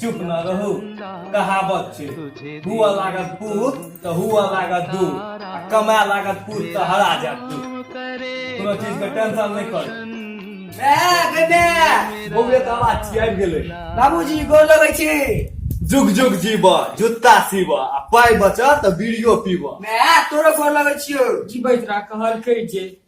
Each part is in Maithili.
चुप न रहू कहावत छै हुआ लागत पूत तऽ हुआ लागत दू आ कमाए लागत पूत तऽ हरा जात दू कोनो चीज के टेंशन नहि कर बौए तऽ आवाज छियै आबि गेलै बाबूजी गोर लगै छी जुग जुग जीव जुत्ता सीव आ पाइ बचत तऽ बीड़ियो पीबऽ माय तोरो गोर लगै छियौ जीबैत रह कहलकै जे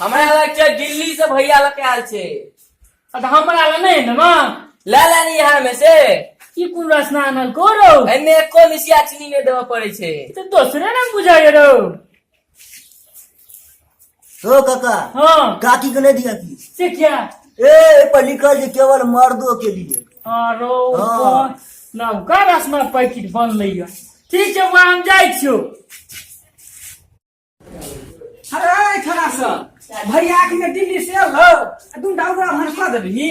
हमरा लग छै दिल्ली से भैया लग आयल छै अब हमरा लग नहीं है ना ला ला नहीं यहाँ में से ई कोन रसना आनल को रौ एने कोन सियाचनी में देवे पड़े छै तो दोसरे रंग बुझाय रौ हो काका हाँ काकी को नहीं दिया की से क्या ए पर लिखल जे केवल मर्दों के लिए आरो हाँ। नवका रसमा पैकेट बनलै है ठीक छै वहाँ हम जाइ छियौ अरे खड़ा सँ भैया आँखि में दिल्ली से एल हौ आ तू डाउरा भर कऽ देबही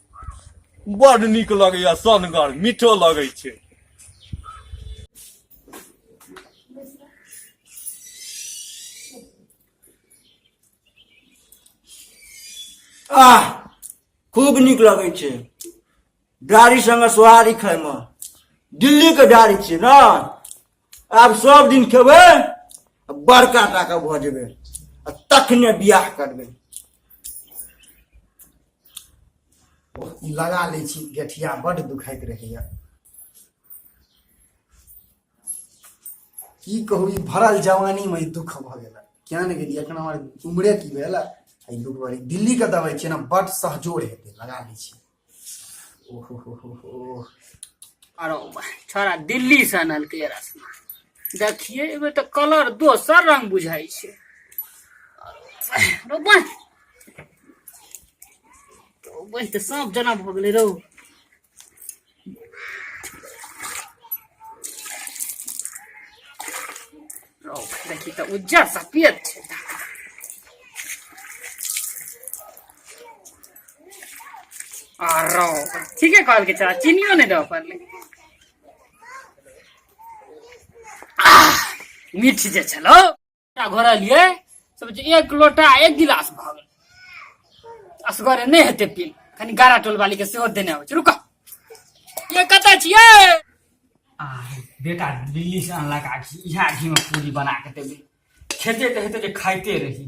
बड़ नीक लगैया सनगर मीठो लगै छै आह खूब नीक लगै छै डारी संगे सोहारी खायमे दिल्लीके डारी छियै ने आब सब दिन खेबै आ बड़का टाके भऽ जेबै आ तखने बियाह करबै लगा लै छी गेठिया बड्ड दुखाइत रहैए की कहू ई भरल जवानीमे ई दुख भऽ गेल किया नहि गेलियै एखन हमर उमरे की भेल एहि दुख भरी दिल्लीके दबै छियै ने बड्ड सहजोर हेतै लगा लै छी ओहो हो हो हो अरे वाह, छोड़ा दिल्ली से अनलकै ये रसना देखिए एहिमे तऽ कलर दोसर रंग बुझाइ छै अरे वाह, अरे वाह, बनि तऽ साँप जेना भऽ गेलै रौ देखी तऽ उज्जर सफेद छै आ रौ ठीके कहलकै चाचा चीनियो नहि दऽ पड़लै मीठ जे छलौ घर एलियै सब जे एक लोटा एक गिलास भऽ गेल असगरे नहि हेतै पील कनि गारा टोल वाली के सेहो देने अबै छै रुक ये कतऽ छियै आ बेटा दिल्ली से अनलक आखी इएह आखी में पूरी बना के देबै खेते तऽ हेतै जे खाइते रही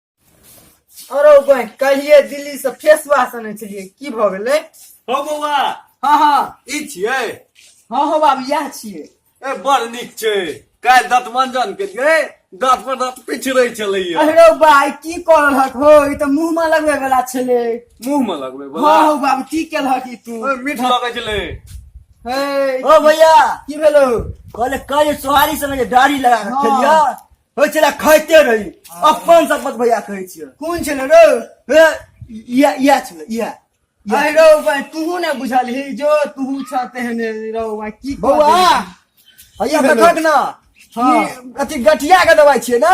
अरे बहन कहिए दिल्ली से फेस वाश आने छलिए की भ गेले हो बौआ हाँ हाँ ई छियै हाँ हाँ बाबू यह छिए ए बड़ नीक छै काल्हि दाँत मंजन केलियै दाँत पर दाँत पिछड़ै छलैया अरे भाई की कर रहक हो ई त मुंह में लगवे वाला छले मुंह में लगबै हाँ बौआ हो बाबू की केल हक ई तू ओए, मीठ लगै छलै हे ओ भैया की भेलो कहले कल सोहारी समय दाढ़ी लगा के हाँ। खेलिया होइ छलै खाइते रही अपन शपथ भैया कहै छियै कोन छलै रौ हे, इएह इएह छलै इएह अरे रौ भाई तू ने बुझल ही जो तू छा तेहने रौ भाई की कऽ बौआ देबही? हैया भेलै? देखक ने हँ। ई अथी गठिया के दवाई छियै ने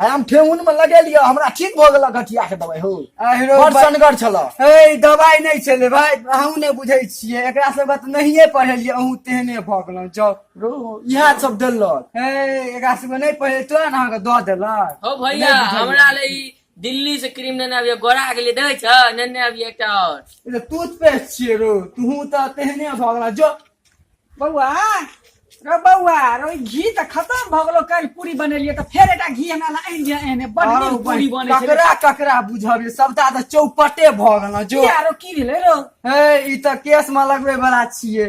आ हम ठेहुन में लगेलियै हमरा ठीक भऽ गेल गठिया के दवाई हो अरे रौ बड़ भाई सनगर छलऽ ए दवाई नहीं छले भाई अहूँ नहीं बुझे छिए एकरा सब बात नहिए पढ़ेलिए अहूँ तेहने भऽ गेलहुँ जाउ इएह सब देलक हे एकरा सबके नहि पहिले तो ने अहाँके दऽ देलक हो भैया हमरा ले ई दिल्ली से क्रीम नेने आबिए गोरा गेलिए देखै छ नेने आबिए एकटा और ई तऽ टूथपेस्ट छियै रो तूहूँ तऽ तेहने भऽ गेला जो बौआ रो बौआ रो ई घी तऽ खतम भऽ गेलो काल्हि पूरी बनेलियै तऽ फेर एकटा घी हमरा लए आनि दिअ एहने बड आरो नीक पूरी बन- बनै छै ककरा ककरा बुझब ये सबटा तऽ चौपटे भऽ गेला जो किया रो की भेलै रो हे ई तऽ केस मे लगबै बला छियै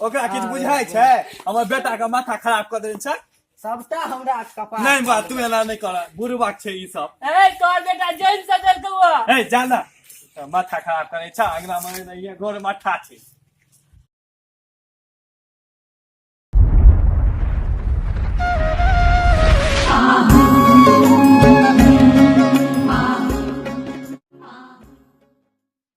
ओकरा किछु बुझाइ छै हमर बेटा के माथा खराब कर देने छै सबटा हमरा कपाल नहीं बा तू एना नहीं कर गुरुबाक छै ई सब ए तोर बेटा जैन से जल तू ए जाना माथा खराब करे छ अगला मने नहीं है गोर माथा छै